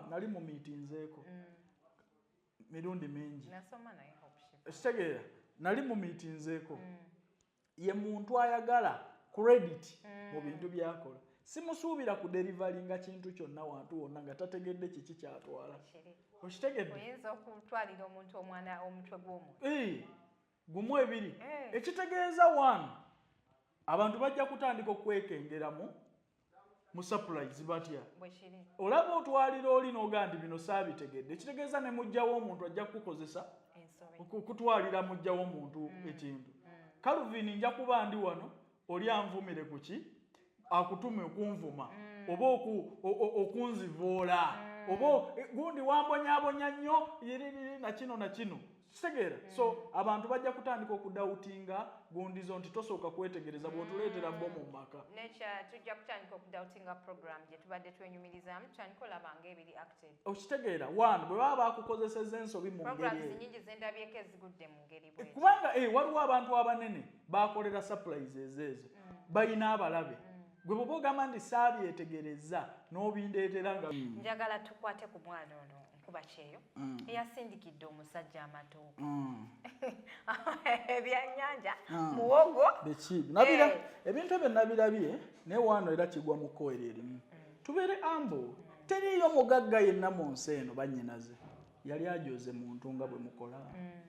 nali mu miitinzeeko mm. mirundi mingi ekitegeera nali mu miitinzeeko mm. ye muntu ayagala credit mm. mu bintu byakola simusuubira ku delivery nga kintu kyonna wantu wonna nga tategedde kiki kyatwala okitegedde oyinza okutwalira omuntu omwana omutwe gw'omuntu gumu ebiri eh. ekitegeeza one abantu bajja kutandika okwekengeramu mu surprise batya olaba otwalira oli noga nti bino saabitegedde ekitegeeza ne mujjawo omuntu ajja kukukozesa okutwalira mujjawo omuntu mm. ekintu mm. calvin nja kuba ndi wano oli anvumire ku ki akutume okunvuma mm. oba okunzivoola mm. oba eh, gundi wambonyabonya nnyo nakino nakino kitegeera mm. so abantu bajja kutandika okudawutinga gundizo nti tosooka kwetegereza bwotuleetera bo mu maka tujja kutandika okudawutinga program gyetubadde twenyumirizamu tutandika olabanga ebiri okitegeera one bwe baba bakukozeseza ensobi mu kubanga eh, waliwo abantu abanene bakolera supplies ezeezo mm. balina abalabe mm. gwe bwoba ogamba nti saabyetegereza n'obindeetera nga mm. njagala tukwate ku mwana ono nkuba kyeyo eyasindikidde omusajja amatooka ebyannyanja muwogo eh. ebintu ebyo nabirabye naye waano era kigwa mu kkoera erimu Tubeere ambu, teriiyo mugagga yenna mu nsi eno bannyinaze yali ajoze muntu nga bwe mukola mm.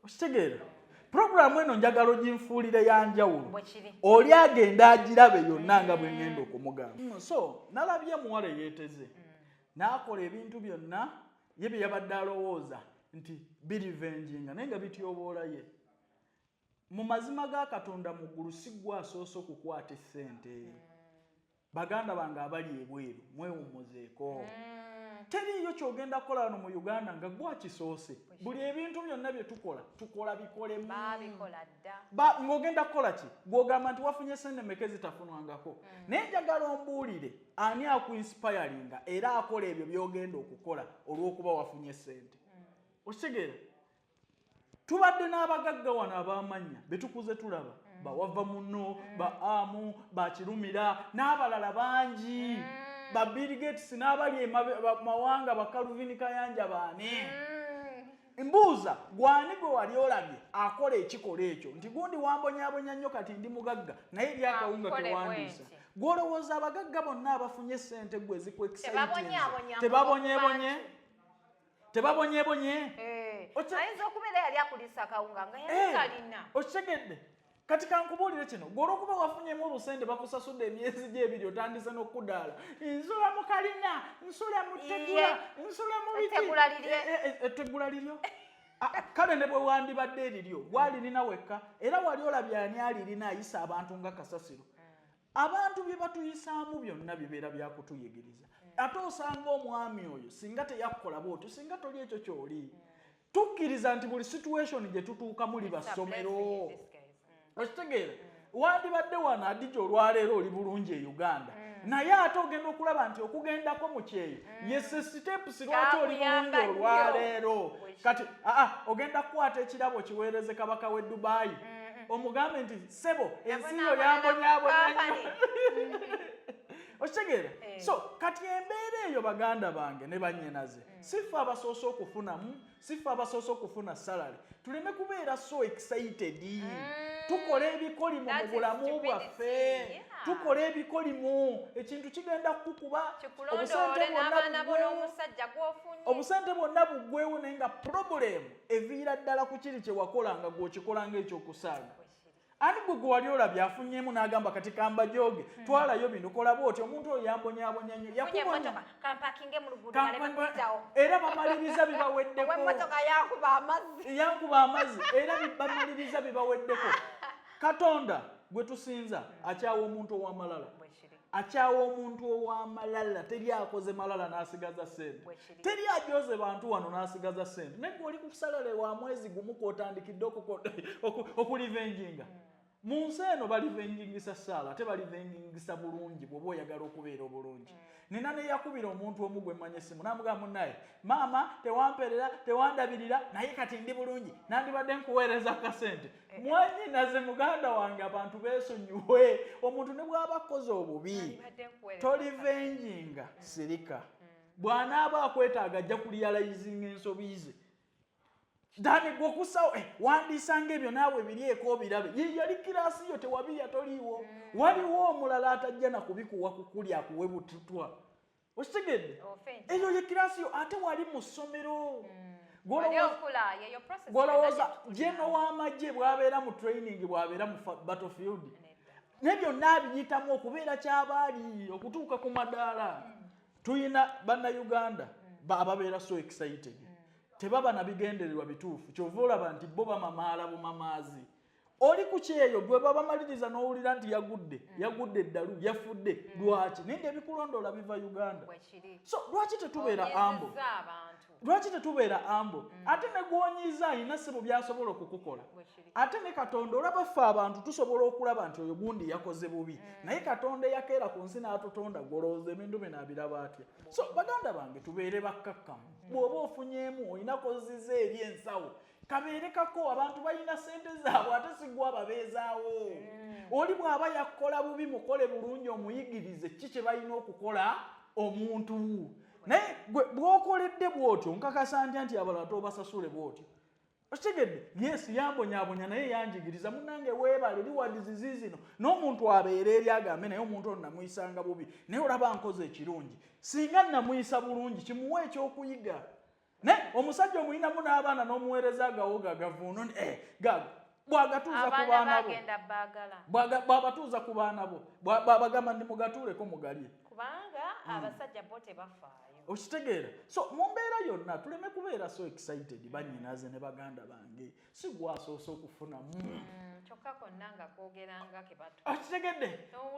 okitegeera puroguramu eno njagala oginfuulire ya njawulo oli agenda agirabe yonna nga bwe ngenda okumugamba mm, so nalabye muwala eyeeteze mm. n'akola ebintu byonna ye bye yabadde alowooza nti birivenjinga naye nga bityoboola ye mu mazima ga katonda mu ggulu si gwe asoose okukwata essente baganda bange abali ebweru mwewummuzeeko mm. teriiyo kyogenda kukola wano mu uganda nga gwakisoose buli ebintu byonna bye tukola tukola bikolemu ng'ogenda kukola ki gw'ogamba nti wafunye sente meke zitafunwangako mm. naye njagala ombuulire ani akuinsipayalinga era akola ebyo by'ogenda okukola olw'okuba wafunye sente mm. okitegeera tubadde n'abagagga wano abamanya betukuze tulaba mm. bawava muno mm. ba amu bakirumira n'abalala bangi mm. ba bill gates n'abali mawanga bakaluvini kayanja baani mbuuza gwani gwe wali olabye akola ekikola ekyo nti gundi wambonyabonya nnyo kati ndi mugagga naye ebyakawunga tewandiisa gwolowooza abagagga bonna abafunye sente gwe ezikwekisayitebabonyebonye tebabonyebonye eh, ayinza okubeera yali akulisa kawunga nga yalikalina eh, okitegedde kati kankubuulire kino gwe olwokuba wafunyemu obusente bakusasudde emyezi gyebiri otandise n'okudaala nsula mu kalina nsula mu tegula nsula mu bitegula eh, liryo ah, ah, kale ne bwe wandibadde eriryo gwalirina wekka era wali olabye ani alirina ayisa abantu nga kasasiro abantu bye batuyisaamu byonna bibeera byakutuyigiriza mm. ate osanga omwami oyo singa teyakkola bwotyo singa toli ekyo kyoli mm. tukkiriza nti buli situation gye tutuukamu liba ssomero mm. okitegeera wandibadde wano adija olwaleero oli bulungi e uganda naye ate ogenda okulaba nti okugendako mu kyeyo yese sitepusi lwaki oli bulungi olwaleero kati aa ogenda kukwata ekirabo kiweereze kabaka w'e dubaayi omugambe nti sebo ensiyo yambonyabonya okitegeera eh. so kati embeera eyo baganda bange ne banyinaze mm. sifa abasoose okufunamu sifa abasoose okufuna salary tuleme kubeera so excited mm. tukola ebikolimo mu bulamu bwaffe tukola ebikolimo ekintu kigenda kukuba obusente bwonna buggwewo naye nga problemu eviira ddala ku kiri kyewakolanga gweokikolanga ekyokusaaga ani gwe gwe wali olabye afunyemu n'agamba kati kambajoge hmm. twalayo bino kolaba oti omuntu oyo yambonyaabonya nnyo yakubonaera bamaliriza bibaweddekoyankuba amazzi era bamaliriza bibaweddeko katonda gwe tusinza akyawa omuntu ow'amalala akyawa omuntu owamalala teri akoze malala nasigaza sente teri ajoze bantu wano nasigaza sente naye oli kusalale wa mwezi gumu kwotandikidde okulivenjinga hmm. mu nsi eno balivenjingisa saala ate balivenjingisa bulungi bwoba oyagala okubeera obulungi hmm. nina neyakubira omuntu omu gwe mmanya essimu namugaa munaye maama tewamperera tewandabirira naye kati ndi bulungi nandibadde nkuweereza kasente mwanyinaze muganda wange abantu besonyiwe omuntu ne bwaba akoze obubi tolivenjinga mm. sirika mm. bwanaaba akwetaaga ajja kuliyalayizinga ensobi ze dani gwokusawo eh, wandisanga ebyo naawe birieko obirabe yeyali kirasi yo tewabirya toliiwo mm. waliwo omulala atajja nakubikuwa kukuli akuwe bututwa okitegedde eyo ye kirasi yo ate wali mu ssomero hmm. gwolowooza jeno w'amagye bwabeera mu training bwabeera mu battlefield ne byonna abiyitamu okubeera kyabaali okutuuka ku madaala hmm. tulina bannayuganda hmm. ababeera so excited tebaba na bigendererwa bituufu kyova olaba nti bo bamamaala bumamaazi oli ku kyeyo gwe babamaliriza n'owulira nti yagudde mm. yagudde eddalu yafudde mm. lwaki naye nga ebikulondoola biva uganda so lwaki tetubeera ambo lwaki tetubeera ambo mm. ate ne gwonyiza alina sebo byasobola okukukola ate ne katonda olaba ffe abantu tusobola okulaba nti oyo gundi yakoze bubi naye katonda eyakeera ku nsi n'atutonda golowooza ebintu bino abiraba atya so baganda bange tubeere bakkakkamu bw'oba ofunyeemu olina koziza eri ensawo kabeere kako abantu balina sente zaabwe ate sigwa babeezaawo mm. oli bw'aba yakukola bubi mukole bulungi omuyigirize ki kye balina okukola omuntu naye bw'okoledde bw'otyo nkakasa ntya nti abalala tobasasule bw'otyo okitegedde yesu yambonyabonya naye yanjigiriza munange weebale liwadizizi zino n'omuntu abeera eri agambe naye omuntu ono namuyisanga bubi naye olaba nkoze ekirungi singa namuyisa bulungi kimuwa ekyokuyiga ne omusajja omulinamu n'abaana n'omuweereza agawogo agavuuno eh, gago bwagatuuza ku baana bo bwabatuuza ku baana bo bwabagamba ndi mugatuuleko mugalye kubanga hmm. abasajja bo tebafaayo okitegeera so mu mbeera yonna tuleme kubeera so excited banyinaze ne baganda bange si gwasoose okufunamu hmm. kyokka konna nga kwogeranga kebato okitegedde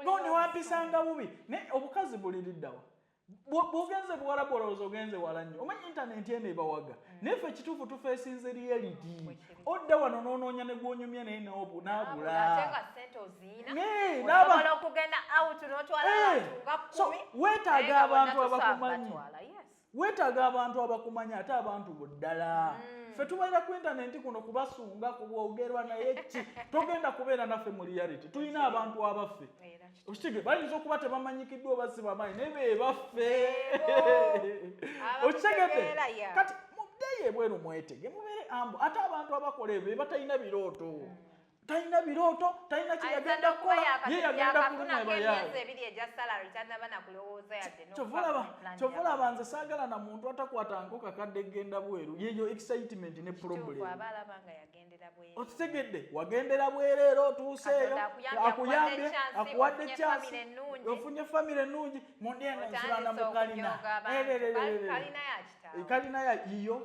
no newampisanga bubi naye obukazi buliriddawa bwogenze buwalabu olowooza ogenze wala nnyo omanyi intanenti eno ebawaga mm. naye fe kituufu tufeesinze reality odda wano n'onoonya ne gwonyumya naye noobu nagulaweetaaga abantu abakumanyi weetaaga abantu abakumanyi ate abantu buddala mm. fe tubeera ku intanenti kuno kubasunga kubwogerwa naye ki togenda kubeera naffe mu reality tulina abantu abaffe okitege bayinza okuba tebamanyikiddwa oba si bamaanyi naye bebaffe okitegede kati muddeyo ebweru mwetege mubeere ambu ate abantu abakola ebyo bebatalina birooto hmm. talina birooto talina kyeyagenda kukola ye yagenda kulunyabayakyovulaba nze saagala na muntu atakwata nko kakadde genda bweru yeyo excitement ne problem okitegedde wagendera bwereera otuuseeyo akuyambye akuwadde kyansi ofunye famire ennungi mundi eno nsulana mu kalina kalina ya yiyo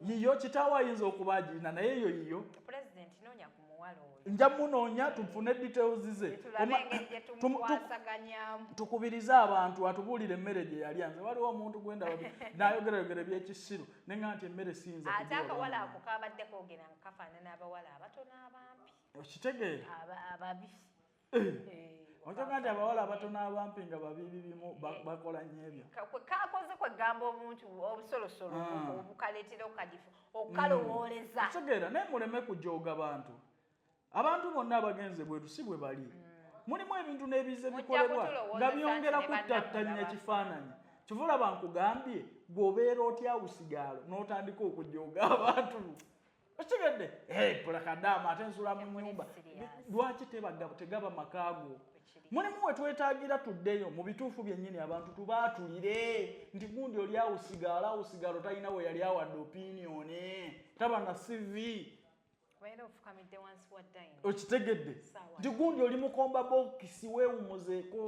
yiyo kitaawo ayinza okuba agirina naye eyo yiyo nja munoonya tufune details ze tukubirize abantu atubuulire emmere gye yalya nze waliwo omuntu gwendaba nayogerayogera ebyekisiru nenga nti emmere siyinza ate akawala ako kabadde kogera nga kafaanana abawala abatono abampi okitegeera ababi eh. eh, ojoga nti abawala abatono abampi nga babibi bimu eh. bakola nnyo ebyo kakoze kwegamba omuntu obusolosolo ah. obukaletera okukadifu mm. okukalowooleza okitegeera naye muleme kujoga bantu abantu bonna abagenze bweru si bwe bali mm. mulimu ebintu n'ebize bikolebwa nga byongera kuttattanya kifaananyi kivula bankugambye gwobeera otya usigaalo n'otandika okujooga abantu okitegedde pulakadaama ate nsula mu nyumba lwaki tebaga tegaba makaago mulimu wetwetagira tuddeyo mu bituufu byennyini abantu tubaatulire nti gundi oli awusigaalo awusigaalo talina we yali awadde opiniyoni taba na sivi okitegedde nti gundi oli mukomba bokisi wewumuzeeko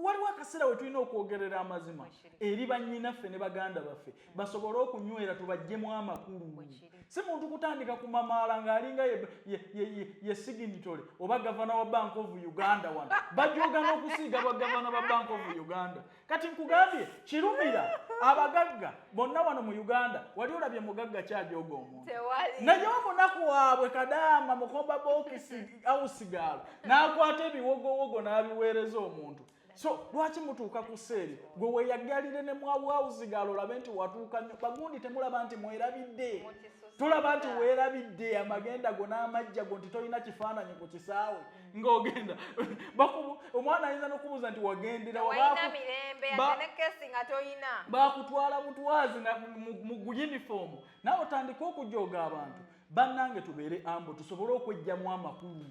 waliwo akaseera we tulina okwogerera amazima eri bannyinaffe ne baganda baffe mm. basobole okunywera tubajjemu amakulu si muntu kutandika ku mamaala ng'alinga ye siginitole oba gavana wa bank of uganda wano bajogana okusiiga bagavana ba bank of uganda kati nkugambye kirumira abagagga bonna wano mu uganda wali olabye mugagga kyajooga omuntu naye omunaku waabwe kadaama mukomba bokisi awusigaalo n'akwata ebiwogowogo n'abiweereza omuntu so lwaki mutuuka ku seeri gwe weyagalire ne mwawawuzigaalo olabe nti watuuka nyo bagundi temulaba nti mwerabidde tulaba nti weerabidde amagenda go n'amajja go nti tolina kifaananyi ku kisaawe ng'ogenda omwana ayinza n'okubuuza nti wagenderabaakutwala butwazi mu yunifoomu nawe otandika okujooga abantu bannange tubeere ambo tusobole okwejjamu amakulu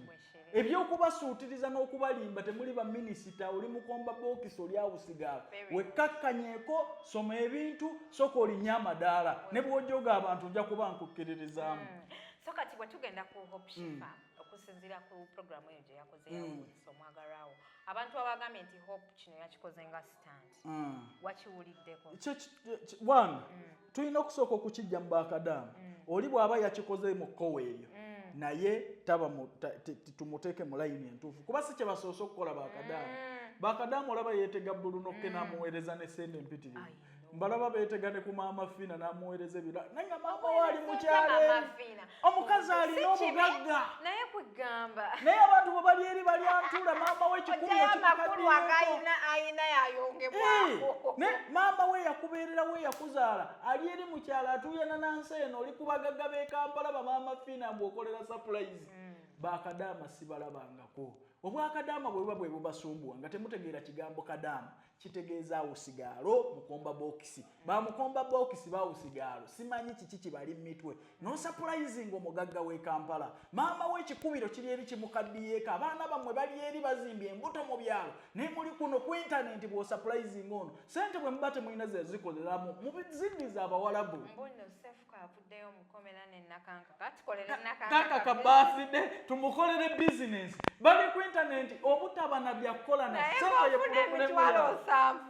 ebyokubasuutiriza n'okubalimba temuli baminisita oli mukomba bokisi oli awusigaala wekkakkanyeko soma ebintu soka olinye amadaala ne bwojoga abantu nja kuba nkukiririzaamu mm. so kati bwe tugenda ku hopshifa mm. okusinziira ku puroguramu eyo gye yakoze mm. yawunyisa omwagalwawo abantu abagambye nti hope kino yakikoze nga stand mm. wakiwuliddeko one mm. tulina okusooka okukijja mu bakadaama oli bw'aba yakikoze mu kkowa eryo naye tumuteeke mu layini entuufu kuba si kye basoose okukola bakadaama bakadaama olaba yeetega bbulu nokke n'amuweereza ne sente empitirivu mbalaba beetegane ku maama fiina n'amuweereza ebira naye nga maama we ali mukyaleeri omukazi alina obugagga naye kugamba naye abantu bwe bali eri bali antuula maama we kikumiaine maama we yakubeerera we yakuzaala ali eri mukyalo atuuyana nansi eno oli ku bagagga b'e kampala bamaama fiina mbu okolera sapulayizi mm. bakadaama sibalabangako obwakadaama bwebuba bwebubasumbuwa nga temutegeera kigambo kadaama kitegeeza awusigaalo mukomba bokisi bamukomba bokisi bawusigaalo simanyi kiki kibali mumitwe nosapulayizinga omugagga w'e kampala maama we ekikubiro kiri eri kimukaddiyeeko abaana bammwe bali eri bazimbye embuto mu byalo naye muli kuno ku intanenti bw'osapulayizinga ono sente bwe muba temulina zezikoleramu mubizindiza abawalabu avuddeyo mukomera ne nakankaka tukolere nakankaka birthday tumukolere business bali ku internet obutaba na byakukola na sente ye problem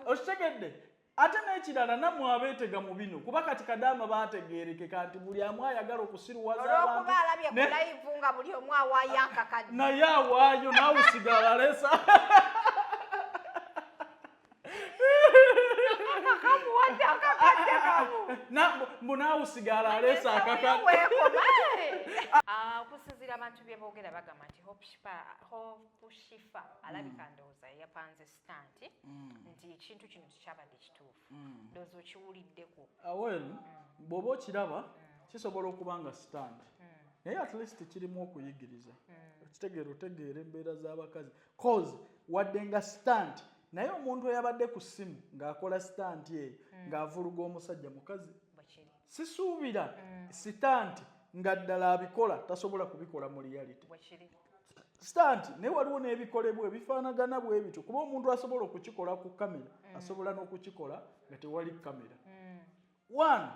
okitegedde ate n'ekirala nammwe abeetega mu bino kuba kati kadaama baategeerekeka nti buli amu ayagala okusiruwazaolwokubaalabyekulayivungabuliomuawayakakanaye awaayo naawe sigala lesa mbu naawe usigala aleesa akakaokusinzira abantu byebogera bagamba nti hopushifa alabika mm. ndowooza yapanze sitanti mm. nti ekintu kino tekyabadde kituufu mm. ndowooza okiwuliddeko awel ah, bwoba okiraba kisobola okuba nga sitanti naye at least kirimu okuyigiriza okitegeera otegeera embeera z'abakazi cause wadde nga stunt naye omuntu eyabadde ku ssimu ng'akola sitanti eyo mm. ng'avuluga omusajja mukazi sisuubira mm. sitanti nga ddala abikola tasobola kubikola mu reality sitanti naye waliwo n'ebikolebwa ebifaanagana bwe bityo kuba omuntu asobola okukikola ku kamera mm. asobola n'okukikola nga tewali kamera one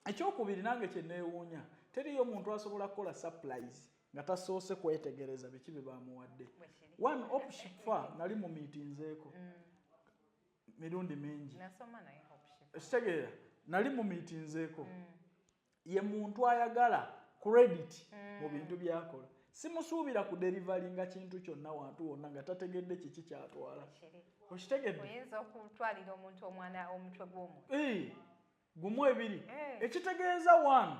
ekyokubiri nange kyeneewuunya teriyo muntu asobola kukola surprise nga tasoose kwetegereza biki bye bamuwadde one opshifa nali mu miitinzeeko mm. mirundi mingi ekitegeera nali mu miitinzeeko mm. ye muntu ayagala credit mm. mu bintu byakola simusuubira ku delivery nga kintu kyonna wantu wonna nga tategedde kiki kyatwala okitegedde oyinza okutwalira omuntu omwana omutwe gw'omuntu gumu ebiri eh. ekitegeeza one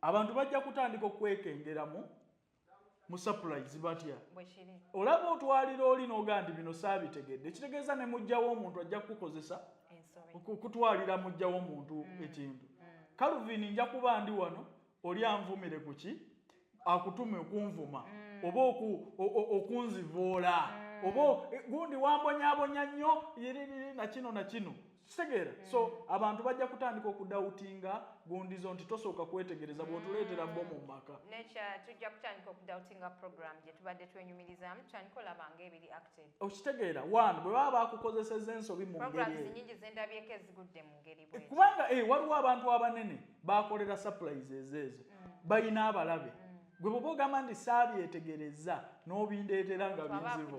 abantu bajja kutandika okwekengeramu mu surprise batya olaba otwalira oli noga nti bino saabitegedde ekitegeeza ne mujjawo omuntu ajja kukukozesa okutwalira mujjawo omuntu mm. ekintu mm. calvin nja kuba ndi wano oli anvumire ku ki akutume okunvuma mm. oba okunzivoola mm. oba eh, gundi wambonyabonya nnyo nakino nakino kitegeera mm. so abantu bajja kutandika okudawutinga gundizo nti tosooka kwetegereza bwotuleetera bo mu maka tujja kutandika okudawutinga program gyetubadde twenyumirizamu tutandika olaba nga ebiri acted okitegeera one bwe baba bakukozeseza ensobi mu ngeri nyingi zendabyeko ezigudde mu ngeri eh, kubanga eh, waliwo abantu abanene bakolera surprises ezo mm. bayina abalabe mm. gwe bwoba ogamba nti saabyetegereza n'obindeetera nga binzibu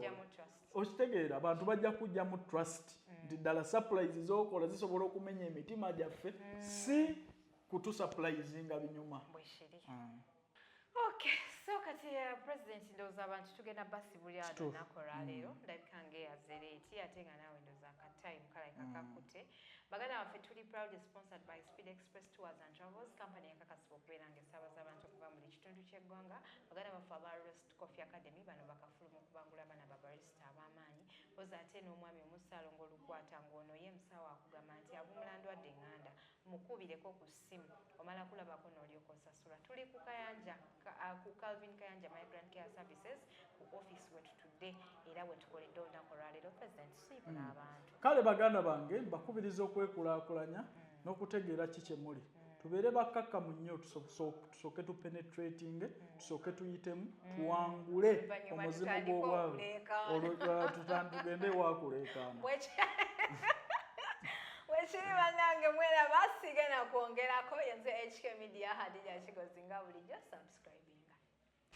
okitegeera abantu bajja kujja mu trust mm. nti ddala surprise zokola zisobola okumenya emitima gyaffe si kutusupplizinga binyuma Okay, so kati ya uh, president ndoza abantu tugenda basi buli ado nakora mm. lero ndabika nge ya zereti ate nga nawe ndoza ka time kala kakakute mm. bagana wafe tuli proud sponsored by Speed Express Tours and Travels company ya kaka sibo kwera nge saba za abantu kuba muli kitundu kye gwanga bagana wafe aba Rest Coffee Academy bano bakafulu mu kubangula abana ba barista abamanyi oza ate no mwami omusalo ngolukwata ngono ye msawa akugama nti abumulandu adenganda Mukubireko ku ssimu omala kulabako n'olyoka osasula. Tuli ku Kayanja uh, ku Calvin Kayanja Migrant Care Services ku office we tutudde era we tukoledde olunaku olwaleero President siibula mm. abantu. Kale baganda bange mbakubiriza okwekulaakulanya mm. n'okutegeera ki kye muli. Mm. Tubeere bakkakkamu nnyo tusobose tusooke tu penetrating mm. tusooke tuyitemu mm. tuwangule omuzimu gw'obwavu olwo uh, tutandugende wakuleekaana wekiri banange mwera basiige nakwongerako yenze hk media hadija kigozi nga bulijjo subscribinga